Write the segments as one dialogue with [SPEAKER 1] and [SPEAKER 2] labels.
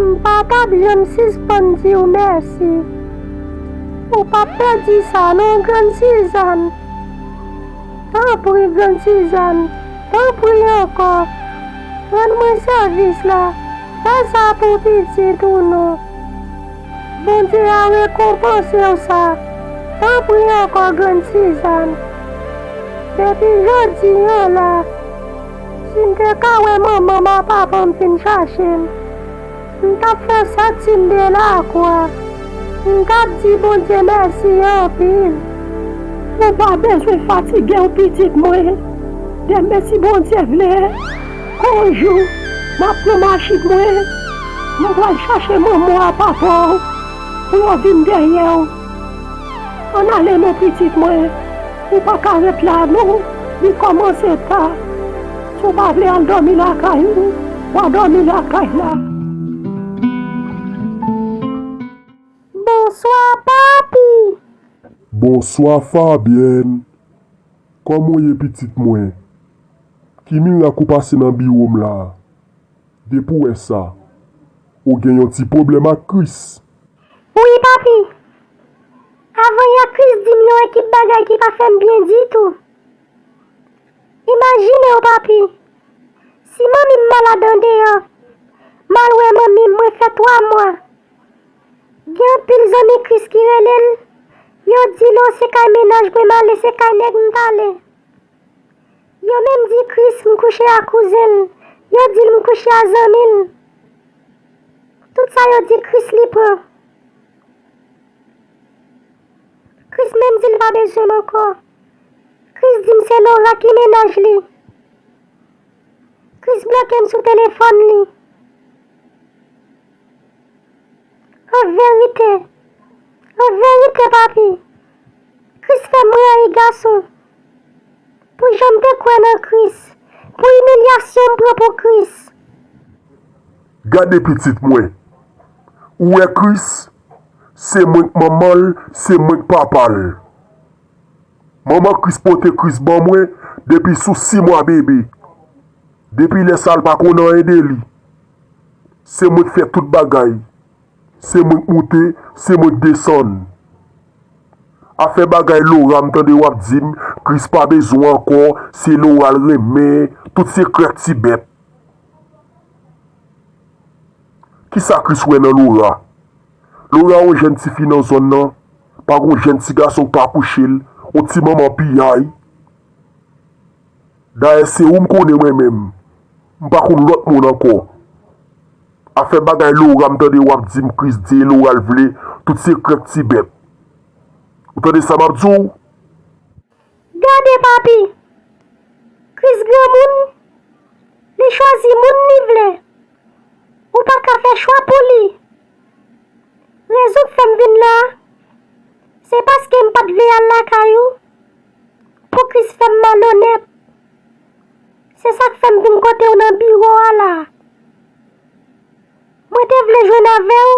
[SPEAKER 1] M pa tap janm sispann diw mèsi. Ou pap pèdi sa non grann Sizàn. Tanpri grann Sizàn, tanpri ankò, rann mwen sèvis la, fè sa pou pitit ou non. Bondye a rekonpansew sa, tanpri ankò grann Sizàn. Depi jodi an la. Si m te ka wè manman m a papa m fin chache m, m t ap fè santi m delakwa. M t ap di Bondye mèsi anpil. Ou
[SPEAKER 2] pa bezwen fatige w pitit mwen. Denmen si Bondye vle, kon jou, m ap pran machin mwen, m pral chache manman w a papa w pou yo vin dèyè w. Ann ale non pitit mwen, ou pa ka ret la non, li kòmanse ta, si w pa vle al dòmi lakay ou, wa dòmi lakay la.
[SPEAKER 1] Bonswa papi!
[SPEAKER 3] Bonswa Fabyèn! Kòman w ye pitit mwen? Ki mirak ou pase nan biwo m la? Depi w wè sa, ou gen yon ti pwoblèm ak Kris. Wi
[SPEAKER 1] papi! Avan yè Kris di m yon ekip bagay ki pa fè m byen ditou. Imajine w papi, si manmi m malad andeyò, m al wè manmi m mwen fè twa mwa. Gen anpil zanmi Kris ki rele l, yo di l o se kay mennaj mwen m ale se kay nèg m t ale. Yo menm di Chris m kouche a kouzen l, yo dil m kouche a zanmi l. Tout sa yo di Chris li pran. Chris menm di l pa bezwen m ankò. Chris di m se Laura ki mennaj li. Chris bloke m sou telefòn li. An verite, an verite papi, Chris fè m rayi gason. Pou jan m te kwè nan Kris. Pou imilyasyon m pran pou Kris.
[SPEAKER 3] Gade pitit mwen. Ou wè Kris? Se mwen k manman l, se mwen k papa l. Manman Kris pote Kris ban mwen depi sou si mwa bebe. Depi lè sa l pa konn anyen de li. Se mwen k fè tout bagay. Se mwen k moute se mwen k desann. Afè bagay Laura m tande wap dim Chris pa bezwen w ankò se Laura l renmen tout se krèk ti bèt. Kisa Chris wè nan Laura? Laura yon jèn ti fi nan zòn nan pa gon jèn ti gason k pa kouche l yon ti manman piyay. Dayè se ou m konnen mwen menm m pa konn lòt moun ankò afè bagay Laura m tande wap di m Christ di e Laura l vle tout se krèk ti bèt ou tande sa map di w.
[SPEAKER 1] Gade papi Christ granmoun li chwazi moun li vle ou pa ka fè chwa pou li rezon k fè m vin la se paske m pat vle al lakay ou. Pouki's fèm malonèt? Se sak fèm vin kotew nan biro a la. Mwen te vle jwenn avèw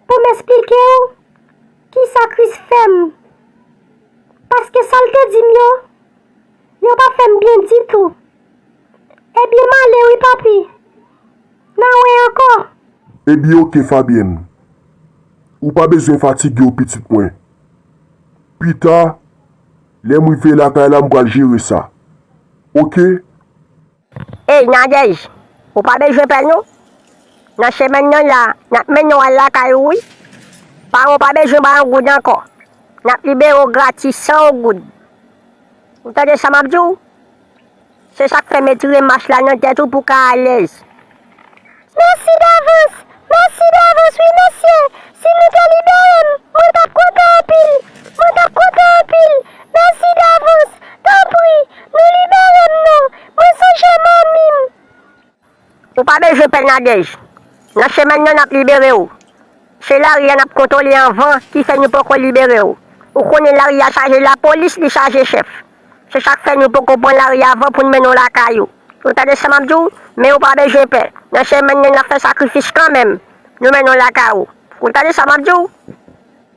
[SPEAKER 1] pou'm esplikew kisa Chris fèm. Paske sal te di'm yo, yo pa fèm byen ditou. Ebyen male wi papi. Na wè ankò. Ebyen ok
[SPEAKER 3] Fabienne. Ou pa bezwen fatiguew pitit mwen. Pita, lè m rive lakay la m pral jere sa. Oke.
[SPEAKER 4] Ey Nadège, ou pa bezwen pè non. Nan semèn nan la, n ap mennen w al lakay ou wi. Paran w pa bezwen bay yon goud ankò. N ap libere w gratis san yon goud. Ou tande sa m ap di w? Se sak fè metire mach la nan tèt ou pou ka alèz. Mèsi
[SPEAKER 1] davans, mèsi davans wi mesye, si nou te libere m, mwen tap kontan anpil, mwen tap kontan anpil, mèsi davans, tanpri, nou libere m non, mwen sonje manmi m.
[SPEAKER 4] Ou pa bezwen pè nadèj. Nan chemen nan nap libere ou. Se lari a nap kontole anvan ki fè nou poko libere ou. Ou konnen lari a chaje lapolis li chaje chèf. Se sak fè nou poko pran lari avan poun mennen w lakay ou. Ou tande sa map di w? Men ou pa bezwen pè. Nan chemen nan nap fè sakrifis kanmenm. Nou mennen w lakay ou. Ou tande sa map di w?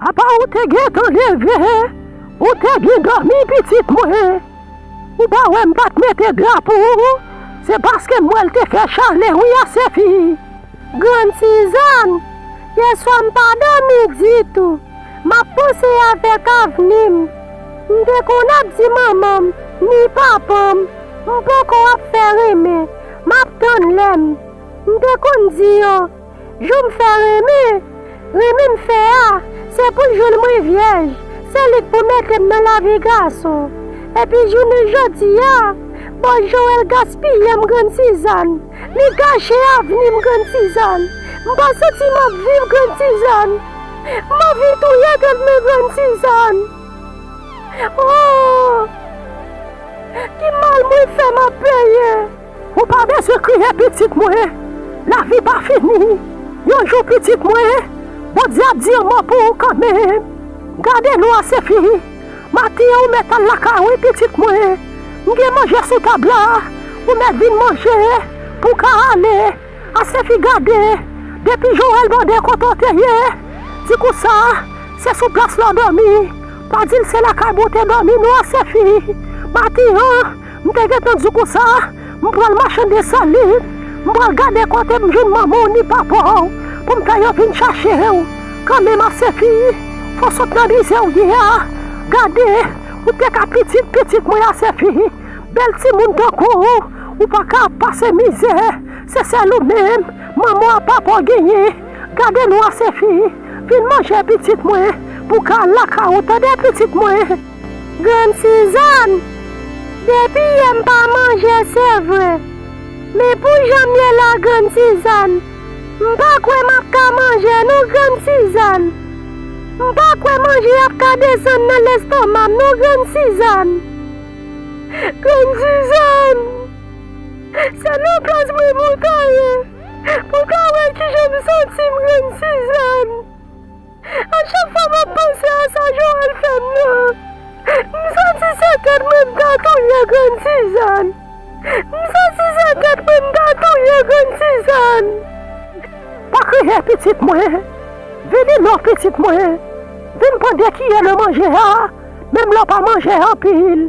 [SPEAKER 2] Apa ou te gentan leve ou te byen dòmi pitit mwen ou pa wè m pat mete dra pou ou se paske m wè l te fè chalè wi a Sefi. Grann
[SPEAKER 1] Suzanne, yèswa m pa dòmi ditou m ap panse avèk avni m, m te konn ap di manman m ni papa m m poko ap fè renmen m ap tann lè m, m te konn di yo. Jou m fè renmen, renmen m fè a, se pou jou l mwen vyèj, se li k pou mete m nan lavi gason. Epi jounen jodi a, bon Joel gaspiye m Grann Sizàn, li gache avni m Grann Sizàn. M pa santi m ap viv Grann Sizàn, m anvi touye tèt mwen Grann Sizàn. O! Ki mal mwen fè m ap peye? Ou pa bezwen
[SPEAKER 2] kriye pitit mwen, lavi pa fini, yon jou pitit mwen, Bondye ap di yon mo pou ou kanmenm, gade nou a Sefi, maten an ou mèt al lakay wi pitit mwen, m gen manje sou tab la, ou mèt vin manje pou w ka ale, a Sefi gade, depi Joel mande kote w te ye, di konsa, se sou plas la w dòmi, pa di l se lakay bon te dòmi non a Sefi, maten an. M te gentan di w konsa, m pral mache Desalin, m pral gade kote m jwenn manman w ni papa w pou m fè yo vin chache w. Kanmenm Asefi, fò sot nan mize w ye a. Gade, ou te ka pitit pitit mwen Asefi. Bèl timoun tankou w, ou pa ka ap pase mizè. Se sèl ou menm manman w ak papa w genyen. Gade nou Asefi, vin manje pitit mwen pou w ka al lakay ou tande pitit mwen. Grann
[SPEAKER 1] Suzanne, Depi yè m pa manje se vre, men pou jan m ye la Grann Suzanne, m pa kwè m ap ka manje non Grann Suzanne. M pa kwè manje ap ka desann nan lestoma m non Grann Suzanne. Grann Suzanne, Se nan plas mwen pou w ta ye, pou w ka wè kijan m santi m Grann Suzanne. A chak fwa map panse a sa Joel fèm nan, m santi se tèt mwen m ta touye grann Suzanne, m santi se tèt mwen m ta touye grann Suzanne.
[SPEAKER 2] Pa kriye pitit mwen, vini non pitit mwen, vin pran 2 kiyè nan manje a, menm lè w pa manje anpil.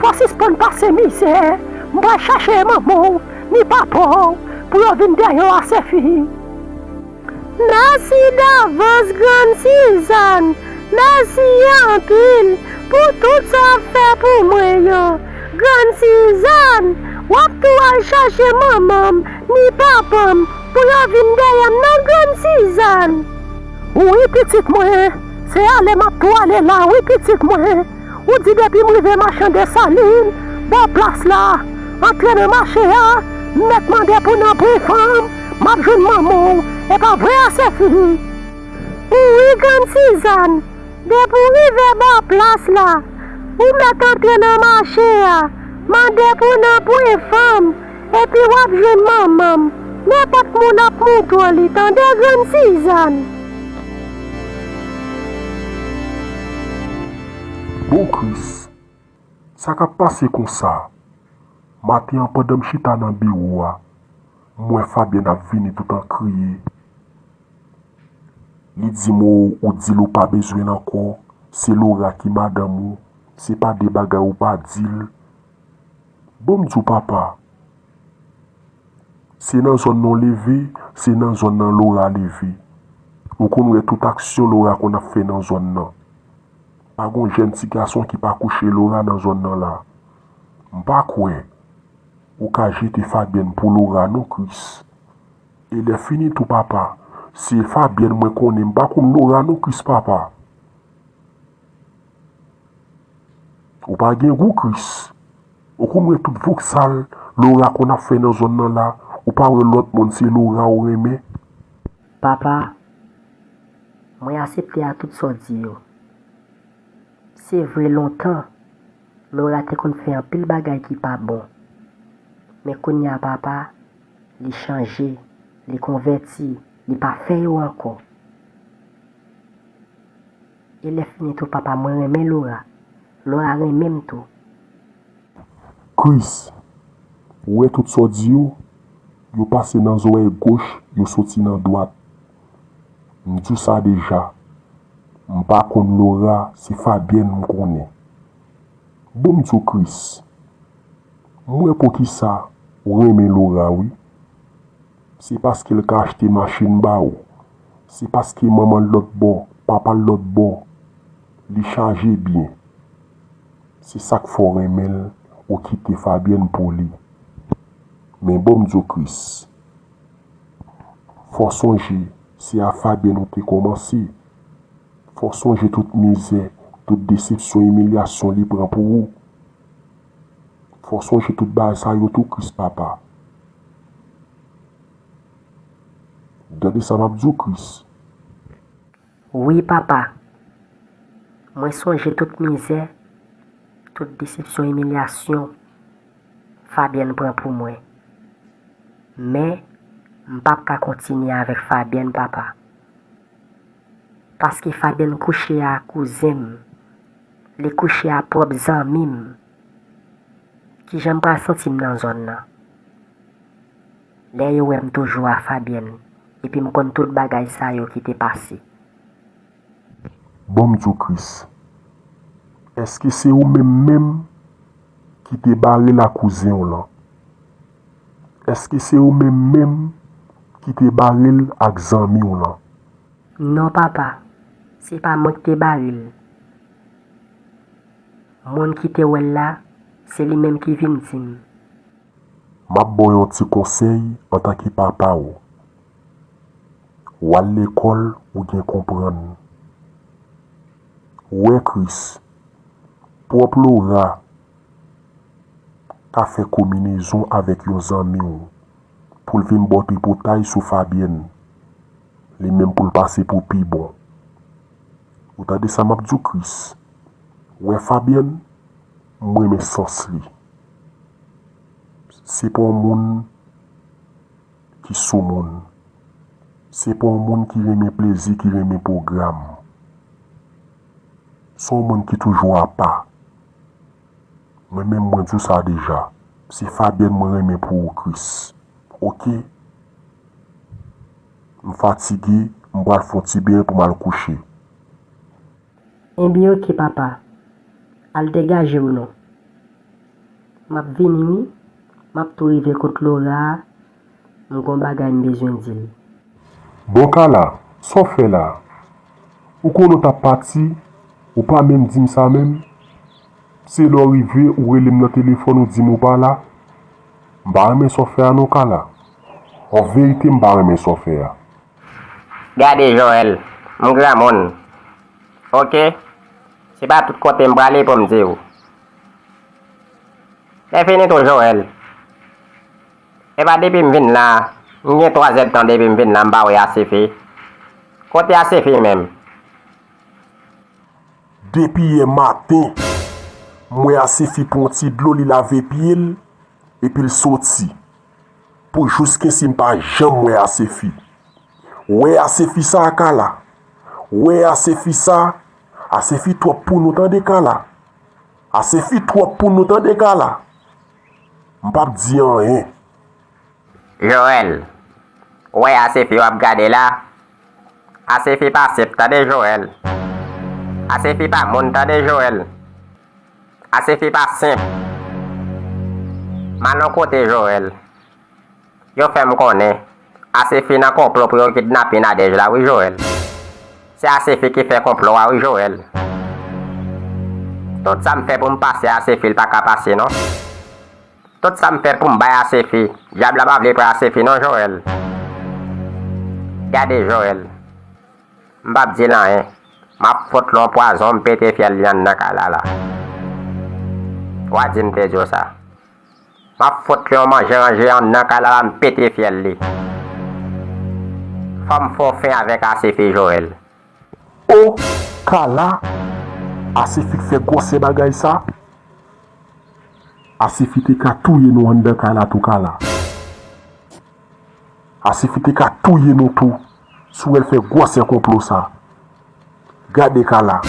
[SPEAKER 2] Fò sispann pase mizè m pral chache manman w ni papa w pou yo vin dèyè w ase fi.
[SPEAKER 1] Mèsi davans grann Sizàn, mèsi anpil pou tout sa w ap fè pou mwen yo. Grann Sizàn, w ap tou al chache manman m ni papa m pou yo vin dèyè m nan grann Sizàn. Wi
[SPEAKER 2] pitit mwen, se ale m ap tou ale la wi pitit mwen. Ou di depim rive machan desalin bò plas la antre nan mache a m mèt mande pou nan bri fanm map jwenn manmanw epa vre a sefi ou wi
[SPEAKER 1] grann sizann depi ou rive bò plas la ou mèt antre nan mache a mande pou nan bri fanm Epi wap jwenn manman m. Nenpòt moun ap mouton li tande grann sizann.
[SPEAKER 3] Bon Kris! Sa kap pase konsa? Maten an pandan m chita nan biwo a, m wè Fabyèn ap vini tout an kriye. Li di m oo ou di l ou pa bezwen l ankò, se Lora ki madanm ou, se pa de bagay ou pa di l. Bon m di w papa, se nan zòn nan w leve, se nan zòn nan Lora leve. Ou konn wè tout aksyon Lora konn ap fè nan zòn nan. Pa gon jèn ti gason ki pa kouche Lora nan zòn nan la. M pa kwè ou ka jete Fabyèn pou Lora non Kris. E lè fini tou papa, se Fabyèn mwen konnen, m pa konn Lora non Kris papa. Ou pa gen gou Chris. Ou konn wè tout voksal Laura konn ap fè nan zòn nan la ou pa wè lòt moun se Laura ou renmen.
[SPEAKER 4] Papa Mwen asepte a tout sa w di yo se
[SPEAKER 1] vre lontan Laura te konn fè anpil bagay ki pa bon men kounya papa li chanje li konvèti li pa fè yo ankò. E lè fini tou papa mwen renmen Laura Laura renmenm tou. Chris
[SPEAKER 3] Ou wè tout sa w di yo Yo pase nan zorèy goch yo soti nan dwat M di w sa deja M pa konn Laura se Fabienne m konnen Bon m di w Chris M wè poukisa w renmen Laura wi. Se paske l ka achte machin ba ou. Se paske manman l lòt bò, papa l lòt bò, li chaje byen. Se sa k fè w renmen l ou kite Fabyèn pou li. Men bon m di w Kris, fò w sonje se a Fabyèn ou te kòmanse. Fò w sonje tout mizè, tout desepsyon, imilyasyon li pran pou ou. Fò w sonje tout bagay sa yo tou Kris papa. Gade sa map diw Chris.
[SPEAKER 1] Wi papa Mwen sonje tout mizè tout desepsyon imilyasyon Fabienne pran pou mwen men m pap ka kontinye avèk Fabienne papa paske Fabienne kouche a kouzen m li kouche a pwòp zanmi m Kijan m pral santi m nan zòn nan? Lè yo wè m toujou a Fabienne epi m konn tout bagay sa yo ki te pase.
[SPEAKER 3] Bon m di w Kris, èske se ou menm menm ki te bare la kouzen w lan? Èske se ou menm menm ki te bare l ak zanmi w lan? Non
[SPEAKER 1] papa, se pa mwen k te bare l. Moun ki te wè l la, se li menm ki vin di m.
[SPEAKER 3] M ap ba w yon ti konsèy antanke papa w. W al lekòl ou gen konprann. Ou wè Kris, pwòp Lora ka fè kominezon avèk yon zanmi w pou l vin ba w tripotay sou Fabyèn, li menm pou l pase pou pi bon. Ou tande sa map diw Chris. Wè Fabienne m renmen sans li se pa yon moun ki sou moun se pa yon moun ki renmen plezi ki renmen pwogram se yon moun ki toujou apa mwen menm mwen diw sa deja se Fabienne mwen renmen pou ou Chris ok. M fatige, m pral fon ti beny pou m al kouche.
[SPEAKER 1] Enben ok papa, al degaje w non. M ap vini wi, m ap tou rive kot Lora a, m gon bagay m bezwen di l. Bon
[SPEAKER 3] Kala, sa w fè la? Ou konnen w t ap pati, ou pa menm di m sa menm? Se lè w rive ou rele m nan telefòn ou di m ou pa la? M pa renmen sa w fè a non Carla. An verite m pa renmen sa w fè a.
[SPEAKER 4] Gade Joel, m granmoun ok, se pa tout kote m prale pou m di w. Lè fini tou Joel, e pa depi m vin la, m gen 3 zèdtan depi m vin la m pa wè Asefi. Kote Asefi menm?
[SPEAKER 3] Depi yè maten, m wè Asefi pran ti dlo li lave pye l epi l soti. Pou jouskensi m pa janm wè Asefi. Wè Asefi sa a Kala! Wè Asefi sa a! Asefi twòp pou nou tande Kala! Asefi twòp pou nou tande Kala! M pap di anyen.
[SPEAKER 4] Joel. Ou wè Asefi wap gade la? Asefi pa sep tande Joel. Asefi pa moun tande Joel. Asefi pa senp. Manon kote Joel? Yo fèm konnen Asefi nan konplo pou yo kidnapin Nadège la wi Joel. Se Asefi ki fè konplo a wi Joel. Tout sam fè poum pase Asefi l paka pase non. Tout sam fè poum bay asefi. Dyab la pa vle pran asefi non joel gade joel m pap dil anyen map fot lon pwazon m pete fyèl lyann nan kay la la wa di m te diw sa map fot li on manje ranje andan kay la la m pete fyèl li fòm fè w fin avèk asefi joel. Oh kala
[SPEAKER 3] asefi k fè gwòsè bagay sa asefi te ka touye nou anndan kay la tou kala asefi te ka touye nou tou si w wè l fè gwòsè konplo sa gade kala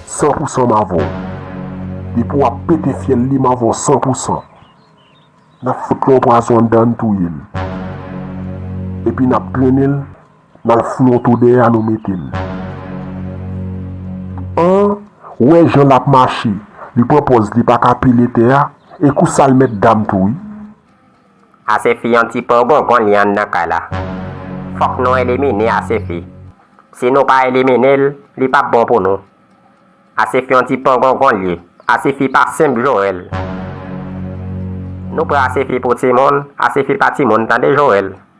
[SPEAKER 3] san pou san m avè w depi w ap pete fyèl li m avè w san pou san n ap fout l yon pwazon anndan n touye l epi n ap trennen l. Nan flonto dèyè a nou mete l. An, wè jan l ap mache, li pran pòz li pa ka pile tè a, e kou sa l mèt dam tou wi.
[SPEAKER 4] Asefi an ti po gongon li anndan kay la. Fòk nou elimine Asefi. Si nou pa elimine l, li p ap bon pou nou. Asefi an ti po gongon l ye. Asefi pa senp Joel. Nou pran Asefi pou timoun, Asefi pa timoun tande Joel.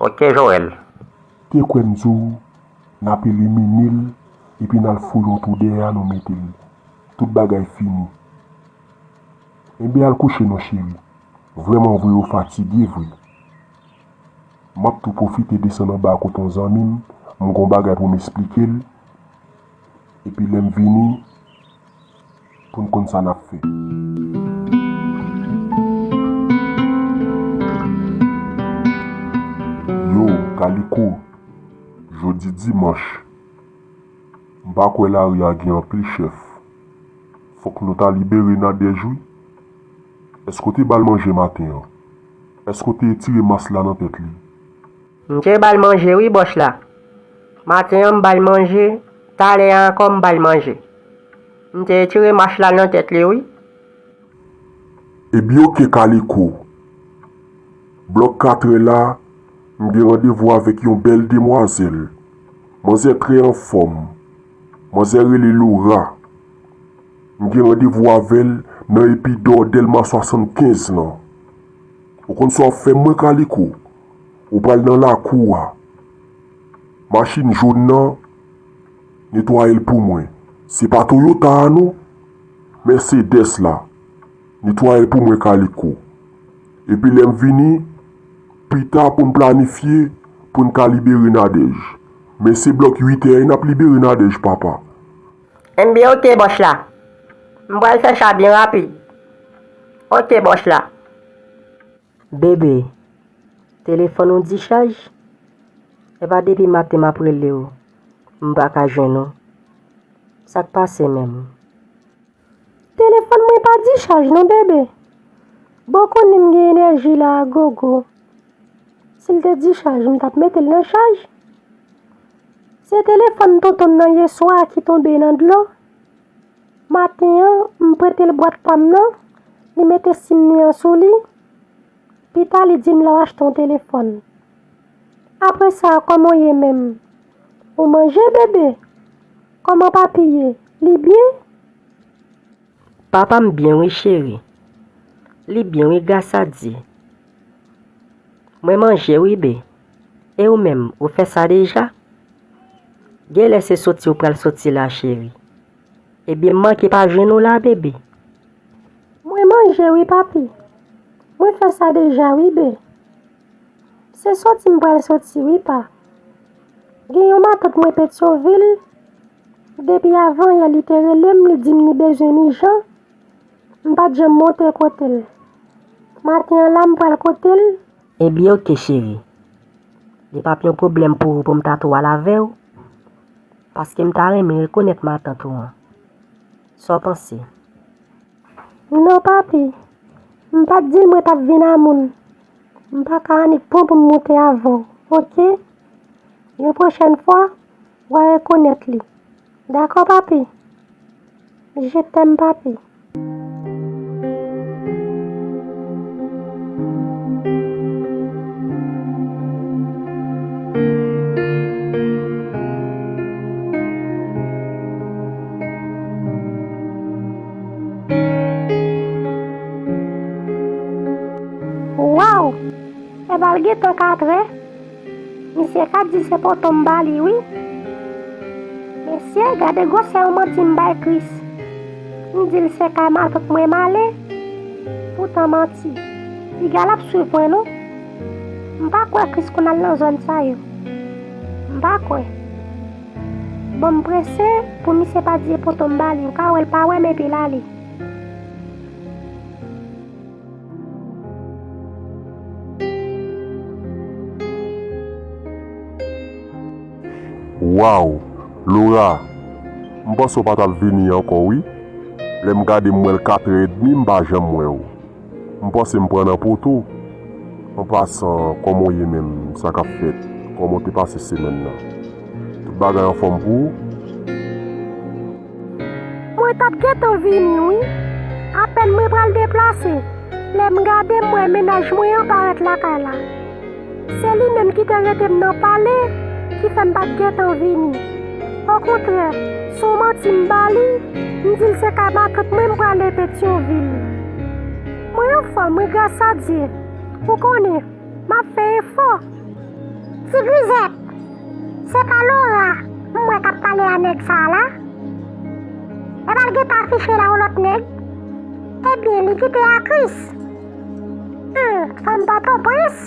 [SPEAKER 4] Ok Joel. Te kwè
[SPEAKER 3] m di w nap elimine l epi nal foure yon twou dèyè a nou mete l tout bagay fini enben al kouche non cheri vrèman vre ou fatige vre map tou pwofite desann anba kot yon zanmi m m gon bagay pou m esplike l epi lèm vini pou n konn sa n ap fè. Yo, Kaliko, jodi dimanch, m pa kwè lari a gen anpil chèf. Fòk nou ta libere Nadège wi. Èske w te ba l manje maten an? Èske w te etire mas la nan tèt li? M te
[SPEAKER 1] ba l manje wi, Bòch la. Maten an m ba l manje, talè a ankò m ba l manje. M te tire mach la nan tèt li wi.
[SPEAKER 3] Ebyn ok kaliko. Blòk katrè la m gen randevou avèk yon bèl demwazèl. Manzè trè anfòm. Manzè rele Laura. M gen randevou avè l nan epidò dèlma 75 lan. Ou konn sa w ap fè mwen kaliko. Ou pral nan lakou a. Machin jón nan. Netwayel pou mwen. Se pa Toyota a non. Mercedes la. Netwayel pou mwen Kaliko. Epi lè m vini pita pou n planifye pou n ka libere Nadèj. Men se blòk uitè n ap libere Nadèj papa. NB.
[SPEAKER 1] Ok bòs la. M pral fè sa byen rapid. Ok bòs la. Bebe, telefòn ou dichaj? Epa depi maten map rele w, m pa ka jwenn ou. Sa k pase menm? Telefòn mwen pa dichaj non bebe. Bon w konnen m gen enèji la a gogo. Si l te dichaj m tap mete l nan chaj. Se telefòn tonton m nan yeswa a ki tonbe nan dlo. Maten an, m prete l bwat pa m nan, li mete sim li an sou li. Pita li di m lè w achte yon telefòn. Apre sa, kòman w ye menm? Ou manje bebe? Kòman papi ye? Li byen? Papa m byen wi cheri. Li byen wi gras a Dye. Mwen manje wi be. E ou menm, ou fè sa deja? Genlè se soti ou pral soti la cheri. Ebyen m manke pa jwenn ou la bebe? Mwen manje wi papi. Mwen fè sa deja wi bee. Se soti m pral soti wi pa. Gen yon matant mwen Petyonvil, depi avanyè li te rele m li di m li bezwen m ijan, m pa t janm monte kote l. Maten an la m pral kote l. Ebyen ok cheri. Li pap yon pwoblèm pou ou pou m ta tou al avè ou? Paske m ta renmen rekonèt matant ou an. Sa w panse? Non papi. M pa t di l mwen t ap vin a moun. M pa ka annik pran pou m monte avan w, ok? Yon pwochèn fwa, w a rekonèt li. Dakò papi. Je t'aime papi. Waww! Ebal gentan 4 è. Misye ka di se poto m ba li wi. Mesye gade gwosè yon manti m bay Kris. M di l se kay matant mwen m ale, poutan manti. Piga l ap swiv mwen non. M pa kwè Kris konn al nan zòn sa yo. M pa kwè. Bon m prese pou misye pa di e poto m ba li. Ou ka wè l pa wè m epi l ale.
[SPEAKER 3] Waww Laura m panse w pa tap vini ankò wi lè m gade m wè l 4 è edmi m pa janm wè w m panse m pran nan poto an pasan kòman w ye menm sa kap fèt kòman w te pase semèn nan tout bagay anfòm pou ou?
[SPEAKER 1] Mwen tap gentan vini wi. Apèn mwen pral deplase, lè m gade m wè mennaj mwen an parèt lakay la. Se li menm ki te rete m nan pale ki fè m pa t gentan vini. Okontrè, s on manti m ba li, m di l se kay matant mwen m prale Petyonvil. Mwen anfòm wi grasadye. Ou konnen, m ap fè efò.
[SPEAKER 4] Tigrizèt! Se pa Laura m wè kap pale a nèg sa la? Epa l gentan afiche la yon lòt nèg? Ebyen li kite a Chris? Humm fanm pòtoprens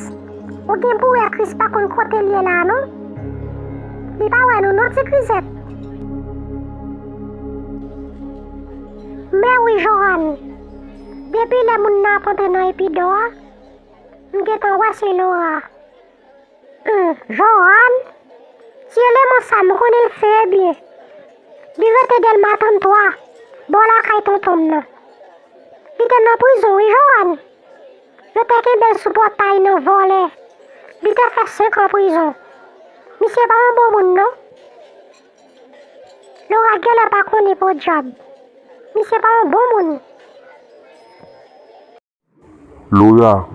[SPEAKER 4] ou gen pou wè Chris pa konn kote l ye la non li pa wè nou non ti krizèt. Mèwi Johanne depi lè moun nan ap antre nan epidò a m gentan wè se Laura. Humm Johanne ti eleman sa m konnen l sere byen li rete delma 33 bò lakay tonton m nan li te nan prizon wi Johanne yo te kenbe l sou pòtay nan vòlè li te fè 5 an prizon misye pa yon bon moun non Laura genlè pa konnen podyab misye pa yon bon moun.
[SPEAKER 3] Laura,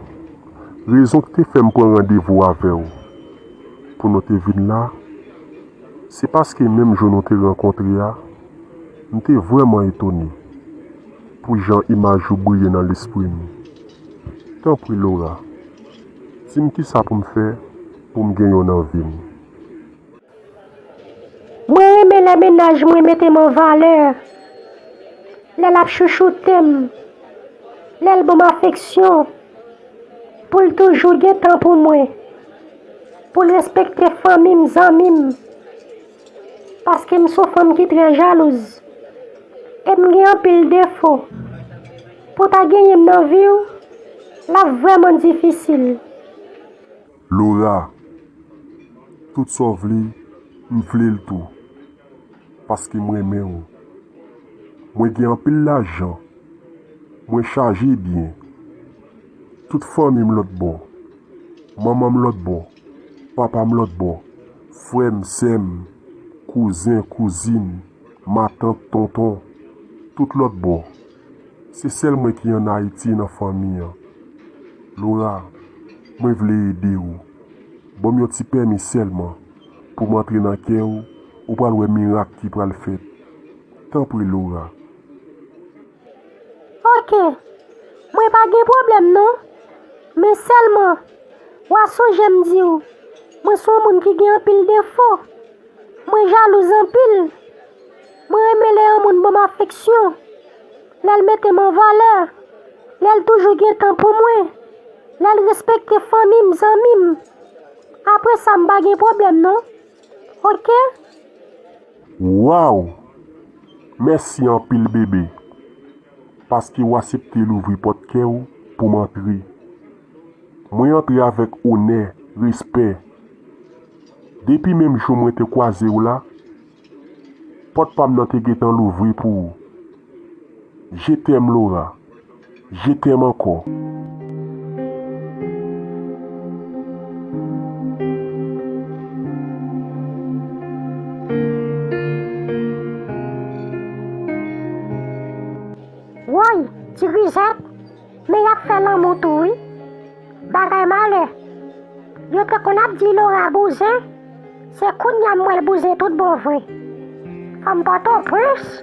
[SPEAKER 3] Rezon ki te fè m pran randevou avè w pou nou te vin la, se paske menm jou nou te rankontre a, m te vrèman etone pou jan imaj ou briye nan lespri m. Tanpri Laura, di m kisa pou m fè pou m gen yo nan vi m.
[SPEAKER 1] Mwen renmen lè mennaj mwen mete m an valè, lè l ap chouchoute m, lè l ban m afeksyon, pou l toujou gen tan pou mwen, pou l respekte fanmi m, zanmi m. Paske m son fanm ki trè jalouz e m gen anpil defo. Pou w ta genyen m nan vi w, l ap vrèman difisil.
[SPEAKER 3] Laura, tout sa w vle m vle l tou paske m renmen w. Mwen gen anpil lajan, mwen chaje byen, tout fanmi m lòtbò, manman m lòtbò, papa m lòtbò, frè m, sè m, kouzen, kouzin, matant, tonton, tout lòtbò. Se sèl mwen ki an Ayiti nan fanmi an. Lora, mwen vle ede ou. Ban m yon ti pèmi sèlman pou m antre nan kè ou, ou pral wè mirak ki pral fèt. Tanpri Lora.
[SPEAKER 1] Ok. Mwen pa gen pwoblèm non. Men sèlman, w'a sonje m di ou, mwen son moun ki gen anpil defo. Mwen jalouz anpil. Mwen renmen lè yon moun ban m afeksyon, lè l mete m an valè, lè l toujou gen tan pou mwen, lè l respekte fanmi m, zanmi m. Apre sa m pa gen pwoblèm non. Ok.
[SPEAKER 3] Waww mèsi anpil bebe paske ou asepte louvri pòt kè ou pou m antre mwen antre avèk onè respè depi menm jou mwen te kwaze w la Pòt pam nan te gentan louvri pou ou Je t'aime Laura Je t'aime ankò.
[SPEAKER 4] Woy ti grizèt Men yap fè lanmou tou wi. Bagay malè. Yo te konn ap di Laura bouzen, se kounya m wè l bouzen tout bon vre. Fanm Pòtoprens!